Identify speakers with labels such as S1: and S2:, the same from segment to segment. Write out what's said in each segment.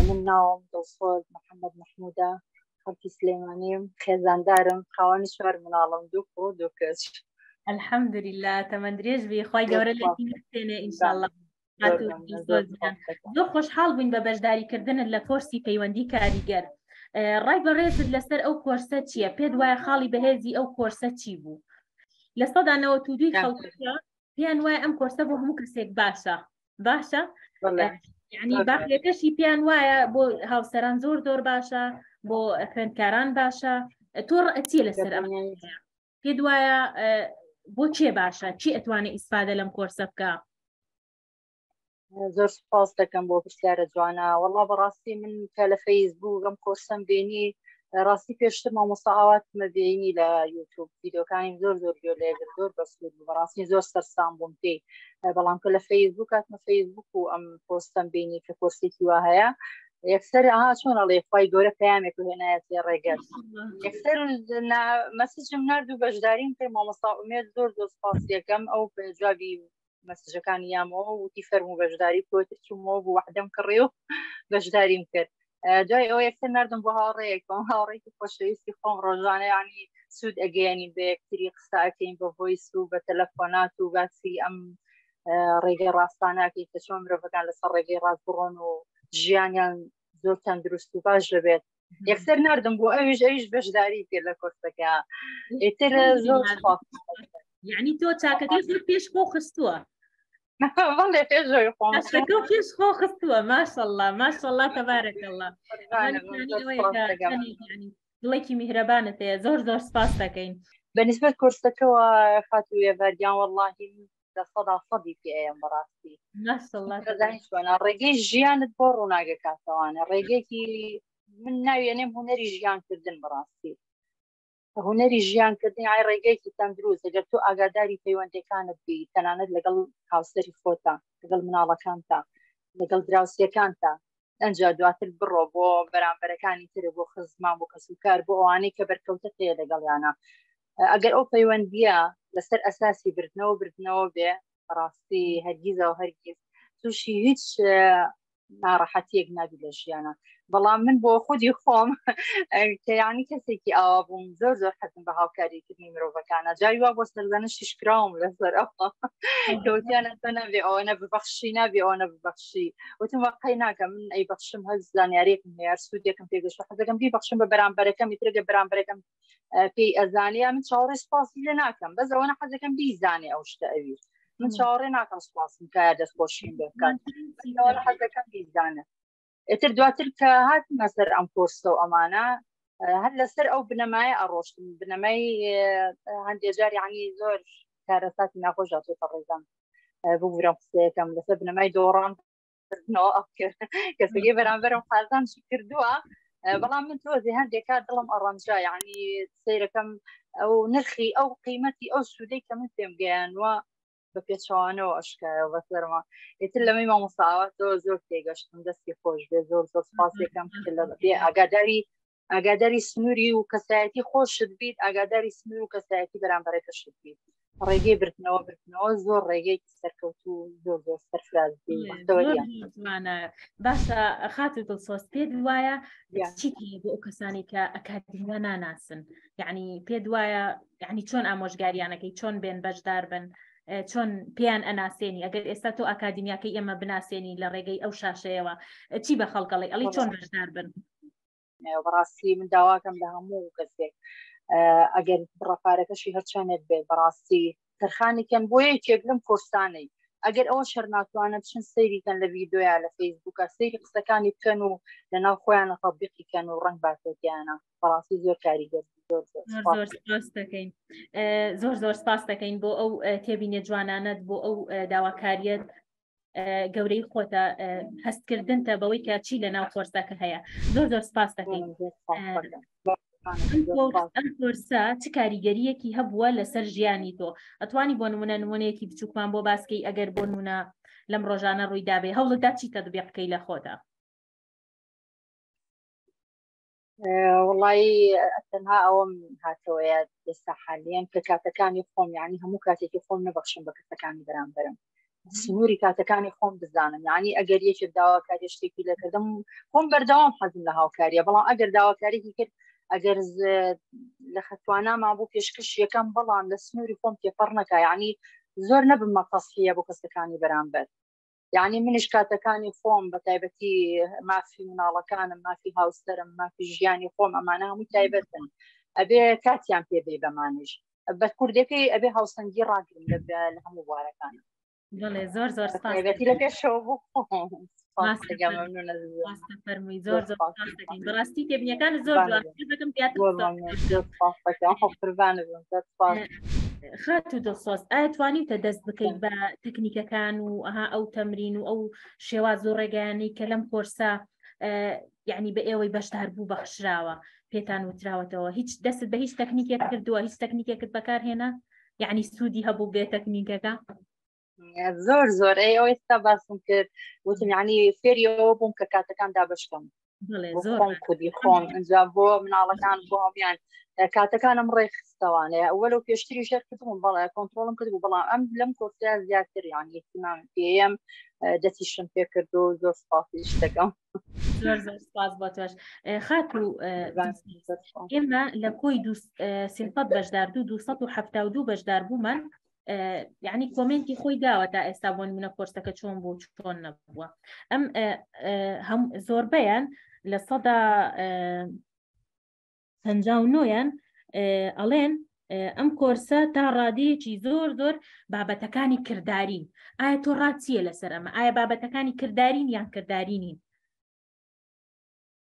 S1: من ناوم دڵسۆز محەممەد مححمودا خەڵکی سلێمانیم خێزاندارم خاوەنی شوار مناڵم دوو خۆ دوو کەس ئەلحەمدوریلا
S2: تەمەندرێژ بی خی گەورە لێنێ ئینشاءله زۆر خۆشحاڵ بووین بە بەشداریکردنت لە کۆرسی پەیوەندی کاریگەر ڕای بەڕێزت لەسەر ئەو کۆرسە چییە پێت وایە خاڵی بەهێزی ئەو کۆرسە چی بوو لە سەدا نەوە تو دوی خەڵک پێیان وایە ئەم کۆرسە بۆ هەموو کەسێک باشە باشە یعنی باقیەکەشی پێیان وایە بۆ هاوسەران زۆر زۆر باشە بۆ خوێندکاران باشە تۆڕ ئەچیە لەسەر ئەم پێت وایە بۆ چێ باشە چی ئەتوانێت ئیسفادە لەم
S1: کۆرسە بکە زۆر سپاس دەکەم بۆ پرسیارە جوانە وەڵا بەڕاستی من کە لە فەیس بوو گەم کۆرسم بینی ڕاستی پێشتر مامۆستا ئاوات مەبیینی لە یوتوب یددیوکانی زۆر زۆر گوێ لێگر زۆر بەسود بەڕاستی زۆر سەرسان بووم پێی بەڵام کە لە فەیسبوو کاتمە فەیسبوک و ئەم پۆستم بینی کە کۆرسێکی وا هەیە یەکسەر ئەها چۆن ئەڵێ خی گەورە پەیامێک هێنایەتی ڕێگەر یەکسەر مەسجم نرد و بەشداریم پێ مامۆستا ئومێت زۆر زۆر سپاس یەکەم ئەو جوابی مەسجەکانی یامەوە وتی فەرم و بەشداری کۆتر چوومەوە بوو وحدەم کڕێ و بەشداریم کرد دوای ئەو یەکسەر نردم بۆ هاوڕێیەکم هاوڕێکی خۆشەویستی خۆم ڕۆژانە ینی سوود ئەگەیانی بە یەکتری قساکەین بە هۆیس و بە تەلەفۆنات و باسی ئەم ڕێگەی ڕاستاناکەی کە چۆن مرۆڤەکان لەسەر ڕێگەی ڕاست بڕۆن و ژیانیان زۆر تەندروست و باش دەبێت یەکسەر نردم بۆ ئەویش ئەویش بەشداری کرد لە کۆرسەکە ئیتر زۆر
S2: یعنی تۆ چاکەکەی زۆر پێش خۆ خستووە
S1: بەڵێ پێش زۆر خۆ پێش خۆ
S2: خستووە ماشەڵڵا ماشەڵڵا تەبارەکەڵڵا دڵێکی میهرەبانت هەیە زۆر زۆر سپاس دەکەین بەنسبەت
S1: کورسەکەەوە خاتوویە بەردیان وەڵی لە سەدا سەدی پێ ئەیەم بەڕاستی ڕێگەی ژیانت بۆ ڕووناگە کاتەوانە ڕێگەێکی من ناوێنێم هوەری ژیانکردن بەڕاستی هوەری ژیانکردنی ئای ڕێگەیەکی تەندروست دەگەر تو ئاگاداری پەیوەندەکانت بی تەنانەت لەگەڵ هاوسەری خۆتا لەگەڵ مناڵەکانتا لەگەڵ دراوسەکانتا ئەجا دواتر بڕۆ بۆ بەرامبەرەکانی تر بۆ خزمان بۆ کەسوکار بۆ ئەوانەی کە بەرکەوتە پێ لەگەڵیانە ئەگەر ئەو پەیوەندیە لەسەر ئەساسی بردنەوە بردنەوە بێ ڕاستی هەرگیزەوە هەرگیز تووشی هیچ ناڕەحەتیەک نابی لە ژیانە بەڵام من بۆ خودی خۆم کەیانی کەسێکی ئاوا بووم زۆر زۆر حەزم بە هاوکاریکردنی مرۆڤەکانە جای وا بۆ سەردانە شیشکراوم لەسەر ئەوەوتیانە تۆ نابێ ئەوە نە ببەخشی نابێ ئەوە نە ببەخشی وتم وەقی ناکە من ئەی بەخشم هەز زانیارێکم هەیە سوودێکم پێگەشت حەزەکەم بی بەخشم بە بەرامبەرەکەم میترگە بەرامبەرەکەم پێی ئەزانیا من چاوەڕێ سپاسی لێ ناکەم بەس ئەوەنە حەزەکەم بیزانێ ئەو شتە ئەوی من چاوەڕێ ناکەم سپاسم کە دەستخۆشیم بێ بکات حەزەکەم بیزانە ئتر دواتر کە هات مەسەر ئەم کۆرسە و ئەمانە هەر لەسەر ئەو بنەمایە ئەڕۆشتن بنەمای هەندێجار عنی زۆر کارەساتی ناخۆشاتێتە ڕێزان ببورە قسەکەم لەسەر بنەمای دۆڕان کردنەوە ئەو کەسەکەی بەرامبەرم قازان شی کردووە بەڵام من تۆزی هەندێک کار دڵم ئەڕەنجا یعنی سیرەکەم ئەو نرخی ئەو قیمەتی ئەو سوودەی کە من پێم گەیانوە بە پێچوانەوە ئەشکایە بە سەرما ئتر لەمەی مامۆساوە تۆ زۆر تێگەشتم دەستی خۆش بێ زۆر زۆر سپاسێکم لە بێ ئاگاداری ئاگاداری سنووری و کەسایەتی خۆشت بیت ئاگاداری سنوور و کەسایەتی بەرامبەرەکەشت بیت ڕێگەی بردنەوە بردنەوە زۆر ڕێگەی سەرکەوت و زۆر زۆر
S2: سەرفراز باشە خات و دڵسۆز پێ وایە چی بۆ ئەو کەسانی کە ئەکادمیە ناناسن یعنی پێ وایە یعنی چۆن ئامۆژگاریانەکەی چۆن بێن بەشدار بن چۆن پێیان ئەناسێنی ئەگەر ئێستا تۆ ئاکادمیاکەی ئێمە بناسێنی لە ڕێگەی ئەو شاشەیەوە چی بە خەڵکەڵی ئەڵی چۆن بەشدار بن بەڕاستی
S1: من داواکەم لە هەموو کەسێک ئەگەر بڕەپارەکەشی هەرچەندێک بێت بەڕاستی تەرخانی کەن بۆ یەکێک لەم کۆرسانەی ئەگەر ئەوە شەرناتوانە بچن سەیریکەن لە ویددیویا لە فەیسبووکە سەیری قسەکانی بکەن و لە ناو خۆیان ڕبیقی کەن و ڕنگ باتۆتیانە بەڕاستی زۆر کاریگەر دەکەین زۆر زۆر
S2: سپاس دەکەین بۆ ئەو تێبینێ جوانانت بۆ ئەو داواکاریت گەورەی خۆتە هەستکردنتە بەوەی کە چی لە ناو کۆرسەکە هەیە زۆر زۆر سپاس دەکەین ئەم کۆرسە چ کاریگەریەکی هەبووە لەسەر ژیانی تۆ ئەتوانی بۆ نمونە نمونەیەکی بچووکمان بۆ باسکەی ئەگەر بۆ نمونە لەم ڕۆژانە ڕوویدابێ هەوڵدا چی تەدبیقکەی لە خۆدا
S1: وڵی تەنها ئەوم هاتەوەە ئێستا حالیان کە کاتەکانی خۆم یعنی هەموو کاتێکی خۆم نەبخشم بە کەسەکانی بەرامبرم سنووری کاتەکانی خۆم بزانم یعنی ئەگەر یەکێک داواکاری شتێکی لەکردم خۆم بەردەوام حەزم لە هاوکاریە بەڵام ئەگەر داواکارێکی کرد ئەگەر لە خەتواناما بۆ پێشکەش یەکەم بەڵام لە سنووری خۆم تێپەڕ نەکە یعنی زۆر نەبم مەقەسیە بۆ کەسەکانی بەرامبەر یعنی منیش کاتەکانی خۆم بە تایبەتی مافی مناڵەکانم مافی هاوسەرم مافی ژیانی خۆم ئەمانە هەمووی تایبەتن ئەبێ کاتیان پێ بێ بەمانش بە کوردەکەی ئەبێ هاوسەنگی ڕاگرن لە لە هەموو بوارەکان دڵێ زۆر
S2: زۆر سپاسێتی لە
S1: پێشەوە بوو فەرمووی
S2: زۆر زۆر بەڕاستی تێبینەکان زۆر دەکەم زیاتر قوربانە زۆر خاتو دڵسۆز ئایا توانیتە دەست بکەیت بە تەکنیکەکان و ئەها ئەو تەمرین و ئەو شێواز و ڕێگەیانی کە لەم کۆرسە یعنی بە ئێوەی بەشدار بوو بەخشراوە پێتان وتراوەتەوە هیچ دەست بە هیچ تەکنیکێک کردووە هیچ تەکنیکێکت بەکارهێنا یعنی سوودی هەبوو بێ تەکنیکەکە
S1: زۆر زۆر ئەی ئەو ئێستا باسم کرد وتم ینی فێریەوە بووم کە کاتەکان دابشکم خۆم کودی خۆم ئەجا بۆ مناڵەکان بۆ هەمیان کاتەکانم ڕێخستەوانێ وەلو پێشتری ژێر کردم بەڵێ کۆنتترۆلم کرد و بەڵام ئەم لەم کۆسیا زیاتر یان یەکیمان پێم دەستیشم پێ کرد و زۆر سپاسی شتەکەم زۆر زۆر
S2: سپاس بۆ تۆش خاک و ئێمە لە کۆی سیلپەت بەشدار دوو 272 بەشدار بوومان یعنی کۆمنتی خۆی داوە تا ئێستا بۆن منە کۆرسەکە چۆن بۆ چۆن نەبووە ئەم هەم زۆربەیان لە سەدا پنج نۆیان ئەڵێن ئەم کۆرسە تا ڕادەیەکی زۆر زۆر بابەتەکانی کرددارین ئایا تۆ ڕاچیە لەسەر ئەمە ئایا بابەتەکانی کرددارین یان کرددارینین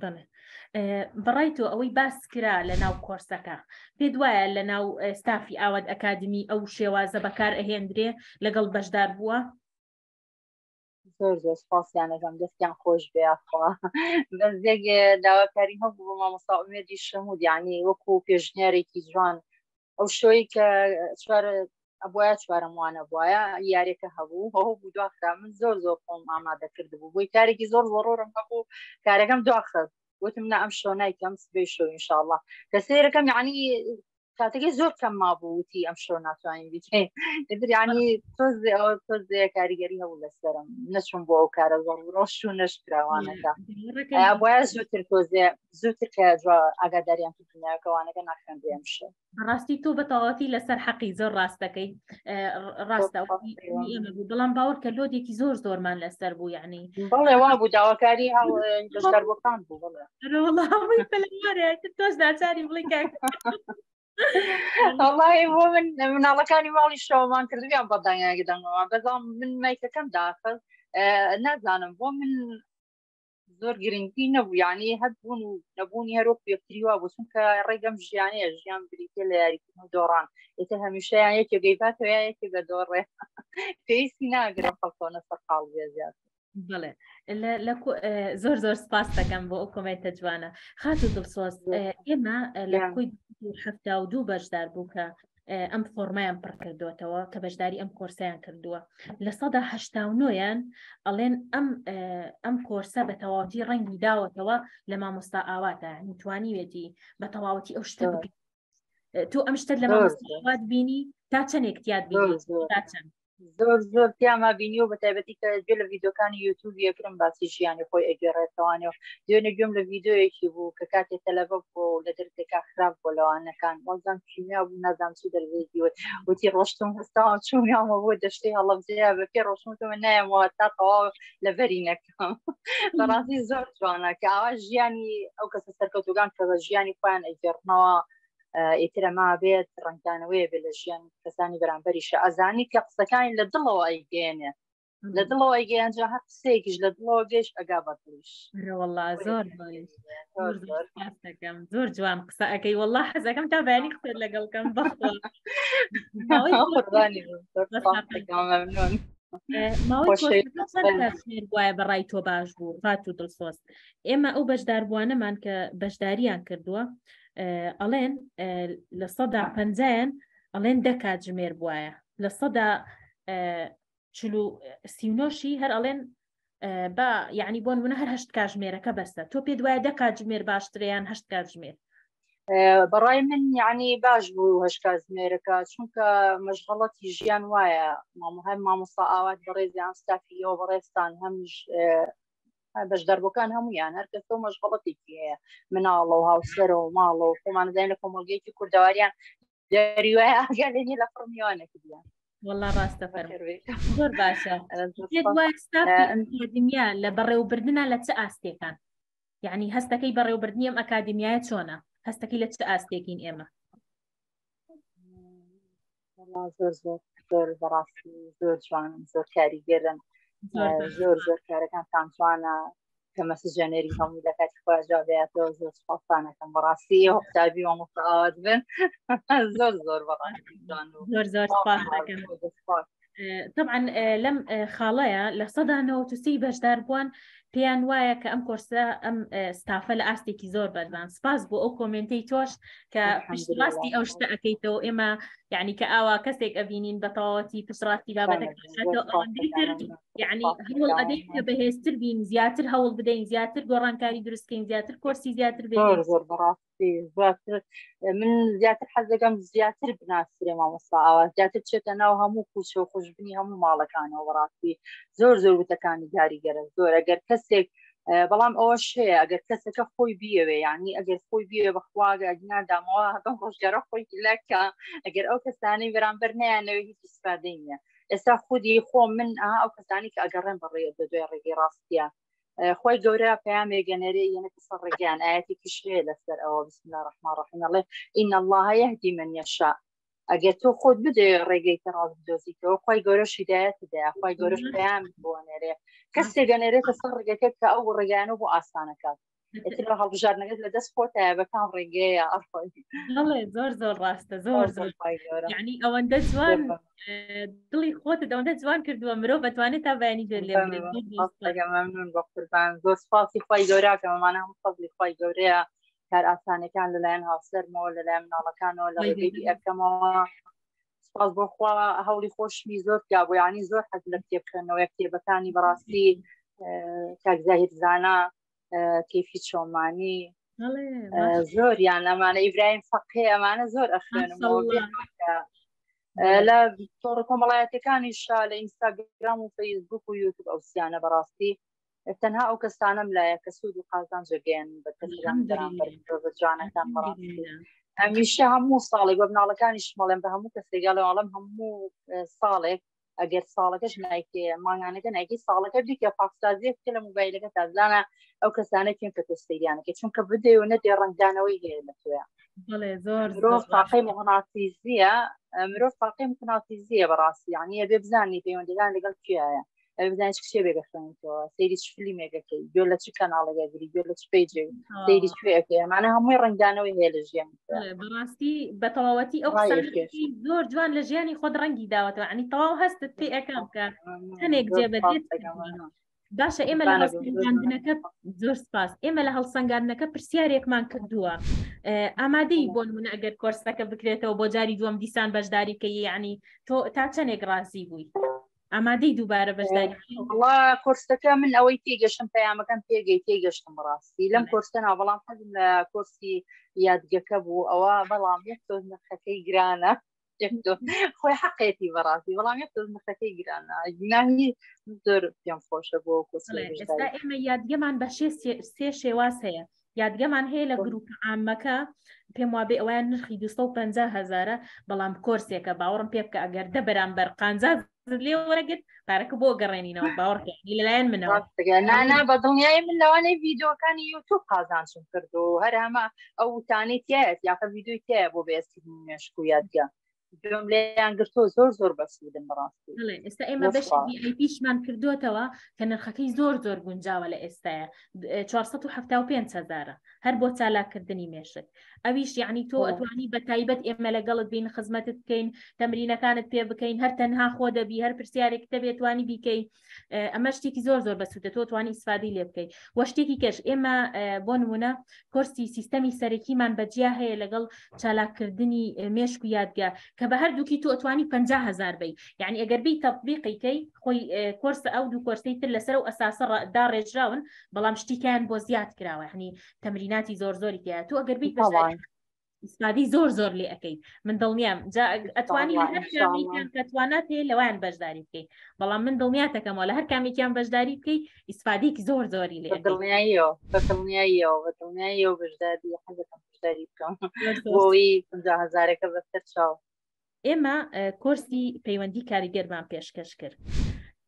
S2: بەڵێ بەڕای تۆ ئەوەی باس کرا لە ناو کۆرسەکە پێ دوایە لە ناو ستافی ئاواد ئەکادمی ئەو شێوازە بەکار ئەهێندرێ لەگەڵ بەشدار بووە
S1: زۆر زۆر سپاسیانەکەم دەستیان خۆش بێخوا بەس دێک داواکاری هەبوو بۆ مامۆستا ئومێدی شەمود یعنی وەکو پێشنیارێکی جوان ئەو شتۆی کە چوار ئەبواە چوارم وانە بواە یارێکە هەبوو هەو بوو دواخرا من زۆر زۆر خۆم ئامادە کرد بوو بۆی کارێکی زۆر زۆرۆرم هەبوو کارەکەم دواخست وتم نە ئەم شۆ نایکەم سبێ شۆ انشاءله کە سێرەکەم یعنی کاتەکەی زۆر کەم ما بووتی ئەم شۆ ناتوانین بیکەین دریانی تۆزێ ئەوە تۆزێ کاریگەری هەبوو لەسەرم نەچوون بۆ ئەو کارە زۆر ڕۆژ و نەشکراوانەکە بۆە زووتر تۆزێ زووتر کە ئاگاداریان دنیاکەوانەکە ناخێنرێم شێ ڕاستی تۆ بەتەواتی
S2: لەسەر حەقی زۆر ڕاستەکەی ڕاستە بەڵام باوەڕ کە لۆدێکی زۆر زۆرمان لەسەر بوو یعنی بەڵێ وا بوو
S1: داواکاری هاوەکان
S2: بوو تۆش ناچاری بڵی ئەڵی
S1: بۆ من مناڵەکانی ماڵی شەوەمان کردویان بەدانیاگەدەمەوە بەزام من مایکەکەم داخست نازانم بۆ من زۆر گرنگی نەبوو یعنی هەبوون و نەبوونی هەرۆک پێکتری وا بۆ چونکە ڕێگەم ژیانەیە ژیان بریتە لە یاریکردن و دۆڕان ئێتە هەمیشەیان یەکێ گەیبات و یەکێ بە دۆڕێ پێویستی ناگرم خەڵکۆنە سەرقاڵ بێ زیاد بڵێ
S2: زۆر زۆر سپاس دەکەم بۆ ئەو کۆمێنتە جوانە خات و دڵسۆز ئێمە لە کوی هەفتا و دوو بەشدار بوو کە ئەم فۆرمایان پڕ کردوێتەوە کە بەشداری ئەم کۆرسیان کردووە لە سەدا هەشتاونۆیان ئەڵێن ئەم ئەم کۆرسە بە تەواوەتی ڕەنگی داوەتەوە لە مامۆستا ئاواتە توانیوێتی بە تەواوەتی ئەو شتە تۆ ئەم شتت لە مامۆستات بینی تا چەندێک تیاد بینی تا چەند زۆر زۆر
S1: پیاما بینی و بەتایبەتی کە گوێ لە ڤیددیوکانی یوتوب یەکرم باسی ژیانی خۆی ئەگەڕێتەوانێ و دوێنێ گوێم لە ڤیددیوەکی بوو کە کاتێ تەلەبە بۆ لە دەرکەکە خراپ بۆ لەوانەکان وەزان کیمیا بوو نازان چی دەرێکی وت وتی ڕۆشتم هەستاوە چومیانمە بۆ دەشتەی هەڵەبجەیە بە پێ ڕۆشتمەوە نایەمەوە تا تەواو لە بەری نەکەم بەڕاستی زۆر جوانە کە ئاوا ژیانی ئەو کەسە سەرکەوتوگان کە بە ژیانی خۆیان ئەگەڕنەوە ئیتر ئەما بێت ڕنگدانەوەی بێ لە ژیان کەسانی بەرامبەریشە ئەزانی کە قسەکانی لە دڵەوە ئەیگەێنێ لە دڵەوە ئەیگەیان جا هەر قسەیەکیش لە دڵەوە گەش ئەگا بەدڵیش وڵا زۆر
S2: دەکەم زۆر جوان قسە ئەەکەی وڵا حەزەکەم تا بەیانی قسەر لەگەڵکەم بەخۆ وایە بەڕای تۆ باش بوو فات و دڵسۆست ئێمە ئەو بەشداربووانەمان کە بەشداریان کردووە ئەڵێن لە سەدا پەنجایان ئەڵێن دە کاتژمێر بواە لە سەدا سینۆشی هەر ئەڵێن بە یعنی بۆن منە هەر هەشت کاتژمێرەکە بەسە تۆ پێ دوایە دە کاتژمێر باشتریان هەشت کاتژمێر
S1: بەڕای من یعنی باش بوو هەش کاتژمێرەکە چونکە مەشغڵەتی ژیان وایە مامۆهای مامۆستا ئاوات بەڕێزیان ستافیەوە بەڕێستان هەمیش بەش دەربەکان هەمویان هەر کەس تۆ مەشغڵەتێکی هەیە مناڵە و هاوسەرە و ماڵە و خۆمان دەین لە کۆمەلگەیەکی کوردەواریان دەریوای ئاگا لەنی لە فڕمیوانە کردیان والله ڕاستە
S2: فەر زۆر باشە ئەکادیمیا لە بەڕێوبردنە لە چ ئاستێکان یعنی هەستەکەی بەڕێوبردنی ئەم ئەکادیمیایە چۆنە هەستەکەی لە چ ئاستێکین ئێمە
S1: وەڵا زۆر زۆر زۆر بەڕاستی زۆر جوانن زۆر کاریگەرن زۆر زۆر کارەکان تان جوانە کە مەسجێنەری هەموو لە کاتی خواجاابێتەوە زۆر سپاسانەکەم بەڕاستی ئێوە قوتابی وە مستعاوات بن زۆر زۆر بەڕاستی جوان و زۆر زۆر
S2: سپاسەکەم طبعا لەم خاڵەیە لە سەدا نەوەسی بەشدار بووان پێیان وایە کە ئەم کۆرسە ئەم ستافە لە ئاستێکی زۆر بەردان سپاس بۆ ئەو کۆمنتی تۆش کە پشتڕاستی ئەو شتە ئەەکەیتەوە ئێمە یعنی کە ئاوا کەسێک ئەبینین بە تەواوەتی پشتڕاستی بابەتەک یعنی هەوڵ ئەدەین کە بەهێزتر بین زیاتر هەوڵ بدەین زیاتر گۆڕانکاری دروستکەین زیاتر کۆرسی زیاتر بێ
S1: من زیاتر حەز دەکەم زیاتر بناسرێ مامۆستا ئاوا زیاتر چێتە ناو هەموو کوچە و خوشببنی هەموو ماڵەکانەوە بەڕاستی زۆر زۆر وتەکانی دیاری گەرە زۆر ئەگەر کەسێک بەڵام ئەوە شەیە ئەگەر کەسەکە خۆی بیەوێ یعنی ئەگەر خۆی بیێ بەخواگە ئەگنا دامەوە بەم ڕۆژگارە خۆی لەکە ئەگەر ئەو کەسانەی بەرامبەر نیانەوە هیچ سپادەی نیە ئێستا خودی خۆ من ئەو کەسانی کە ئەگەڕێن بەڕێ بە دوای ڕێگەی ڕاستە خۆی گەورە پەیامێ گەنەرێ یەنە قسە ڕێگەیان ئاەتی کشێ لەسەر ئەوە بسم الله ڕحمە ڕحمەڵێ ئین الله یهدی من یشا ئەگەر تۆ خۆت بدێ ڕێگەی کە ڕاز بدۆزیتەوە خی گەورە شیدایەت دەیە خی گەورەش پەیام بۆ نێرێ کەسێ گەنێرێتە سەر ڕێگەکە کە ئەو ڕێگەیانە بۆ ئاسانەکات هەڵبژاردنەکەت لە دەست خۆتە بە کام ڕێگەیە ئەڵێ
S2: زۆر زۆر ڕاستە زۆر زۆر ینی ئەوەندە جوان دڵی خۆت دەوەندە جوان کردووە مرۆ بەتوانێت تا بەیانی جێ لێ ممنون
S1: بە قوربان زۆر سپاسی خی گەوراکەمەمانە هەم فەزلی خی گەورەیە کار ئاسانەکان لەلایەن هاوسەرمەوە لەلایەن مناڵەکانەوە لە ڕێگەی ئەکەمەوە سپاس بۆخوا هەوڵی خۆشمی زۆر یا بۆ ینی زۆر حەز لە کتێبکردنەوەی کتێبەکانی بەڕاستی کاکزاهیر زانا کەفی چۆمانی زۆر یان ئەمانە ئیبراهیم فەقێ ئەمانە زۆر ئەخێنم لە تۆڕ کۆمەڵایەتەکانی شا لە ئینستاگرام و فەیسبوک و یوتوب ئەوسیانە بەڕاستی تەنها ئەو کەسانم لایە کە سوود و قازانجە گەیان بە کەسیان بەرامبەر مرۆڤە جوانەکان بەڕام هەمیشە هەموو ساڵێک بە مناڵەکانیش مەڵێن بە هەموو کەسێکگە لەواڵم هەموو ساڵێک ئەگەر ساڵەکەش نایکێ ماگانەکە نایکی ساڵەکە دیکە پاکسازیەک کە لە موبایلەکە تازانە ئەو کەسانە کێن کە تۆستەیانەکە چونکە بدێ و نەدێ ڕنگدانەوەی هەیە لە توێ مرۆڤ تاقی مغناتیزیە مرۆڤ تاقی مغناتیزیە بەڕاستی یانە بێ بزانانی پەیوەندەکان لەگەڵ کیایە ئەوێ بزانانی چ کتێبێک دەخوێنیتەوە سەیری چ فلیمێکەکەی گوێ لە چ کەناڵێکە گری گوێ لە چ پێیجێ آه. سەیری کوێەکەی ئەمانە هەمووی ڕنگدانەوەی هەیە لە ژیان بەڵێ، بەڕاستی
S2: بە تەواوەتی ئەو ڕایەکی قسانە کێش. زۆر جوان لە ژیانی خۆت ڕەنگی داوەتەوە عنی تەواو هەستت پێ ئەکەم کە هەنێک زۆر جێبەجێت سوپاس دەکەم، کردووە. وەڵا. باشە ئێمە لە بانە بێ، زۆر هەڵسەنگاندنەکە زۆر سپاس ئێمە لە هەڵسەنگاندنەکە پرسیارێکمان کردووە ئه، ئامادەی بۆ نمونە ئەگەر کۆرسەکە بکرێتەوە بۆ جاری دووەم دیسان بەشداری کە یعنی تۆ تا چەندێک ڕازی بووی ئامادەی دووبارە بەشداری وڵا کۆرسەکە
S1: من ئەوەی تێگەشتم پەیامەکەم پێگەی تێگەشتم ڕاستی لەم کۆرسە ناو بەڵام حەزم لە کۆرسی یادگەکە بوو ئەوە بەڵام یەک تۆز نرخەکەی گرانە خۆی حقێتی بەڕاستی بەڵام یەک تۆز نرخەکەی گرانە گناهی زۆر پێم خۆشە بۆ کۆسێ ئێمە
S2: یادگەمان بە شێ سێ شێواز هەیە یادگەمان هەیە لە گروپ عامەکە پێم وابێ ئەویان نرخی 250 هزارە بەڵام کۆرسێکە باوەڕم پێ بکە ئەگەر دە بەرامبەر قانزا لێ وەرەگرت پارەکە بۆ گەڕێنینەوە باوەڕکەنی لەلایەن منەوە نانا بە
S1: دڵنیای من لەوانەی ڤیددیوەکانی یوتوب قازانچم کردو هەر هەمە ئەو وتانەی تایەت یاخە ڤیددیوی تایە بۆ بێستی مێشک و یادگە گوێم لێیان گرتۆ زۆر زۆر بەسودن
S2: بەڕاستی ئێستا ئێمە بەشمان کردوتەوە کە نرخەکەی زۆر زۆر گونجاوە لە ئێستاە 475 هزارە هەر بۆ چالاکردنی مێشک ئەویش یعنی تۆ ئەتوانی بە تایبەت ئێمە لەگەڵت بین خزمەتت بکەین تەمرینەکانت پێ بکەین هەر تەنها خۆ دەبی هەر پرسیارێک دەبێتوانی بیکەیت ئەمە شتێکی زۆر زۆر بەسوودە تۆ توانی ئیسفادی لێ بکەیت وە شتێکی کەش ئێمە بۆ نمونە کۆرسی سیستەمی سەرەکیمان بەجیا هەیە لەگەڵ چالاککردنی مێشک و یادگە کە بە هەردووکی تۆ ئەتوانی 50 هزار بی یعنی ئەگەر بی تەبیقیکەی خۆی کۆرسە ئەو دوو کۆرسی تر لەسەر و ئەساسە دا ڕێژراون بەڵام شتیکان بۆ زیاد کراوە هەنی تەمریناتی زۆر زۆری تیا تۆ ئەگەر بی ئستادی زۆر زۆر لێ ئەەکەی من دڵنیام ئەتوانی کەتوانە پێ لەوان بەشداری بکەیت بەڵام من دڵنیاتەکەمەوە لە هەر کامێکیان بەشداری بکەیت ئیسفادیک زۆر زۆری لێ دڵنیاییەوە بە دڵنیاییەوە بە دڵنیاییەوە
S1: بەشداری حەزەکەم بەشداری بکەم بۆی هزارەکە بەسەر چاو ئێمە
S2: کۆرسی پەیوەندی کاریگەرمان پێشکەش کرد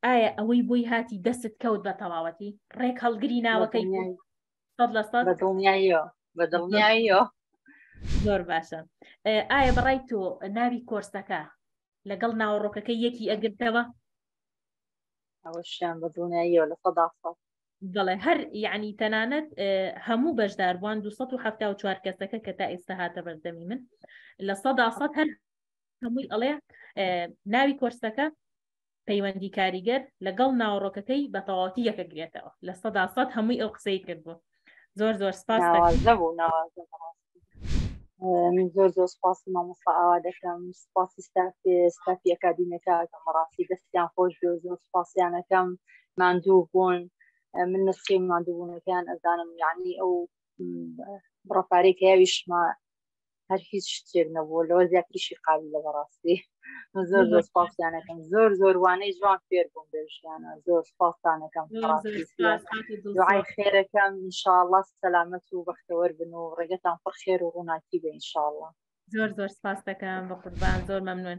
S2: ئایا ئەوەی بۆی هاتی دەست کەوت بە تەواوەتی ڕێک هەڵگری ناوەکەی بەدڵنیاییەوە
S1: بەدڵنیاییەوە
S2: زۆر باشە ئایا بەڕای تۆ ناوی کۆرسەکە لەگەڵ ناوەڕۆکەکە یەکی ئەگرتەوە ئەوەشیان
S1: بە دڵنیاییەوە لە سەدا ساڵ بەڵێ هەر
S2: یعنی تەنانەت هەموو بەشداربووان 1970 کەسەکە کە تا ئێستا هاتە بەردەمی من لە سەدا سەد هەر هەمووی ئەڵێ ناوی کۆرسەکە پەیوەندی کاریگەر لەگەڵ ناوەڕۆکەکەی بە تەواوەتی یەکەگرێتەوە لە سەدا سەد هەمووی ئەو قسەی کردبوو زۆر زۆر سپاس
S1: من زۆر زۆر سپاسی مامۆستا ئاوا دەکەم سپاسی ستافێ ستافی ئەکادیمەکە ئەکەم ڕاستی دەستیان خۆش بێ زۆر سپاسیانەکەم ماندوو بوون من نسخی ماندووبوونەکەیان ئەزانم یعنی ئەو ڕپارێک هەیەویشمە هەر هیچ شتێک نەبوو لەوە زیاتریشی قالی لە بەڕاستی زۆر زۆر سپاسیانەکەم زۆر زۆر وانەی جوان فێر بووم بێژیانە زۆر سپاسانەکەم دوعای خێرەکەم انشاءله سەلامەت و بەختەوەر بن و ڕێگەتان پڕ خێر و ڕووناکی
S2: بە
S1: انشاءله
S2: زۆر
S1: زۆر سپاس دەکەم بە قوربان
S2: زۆر
S1: مەمنون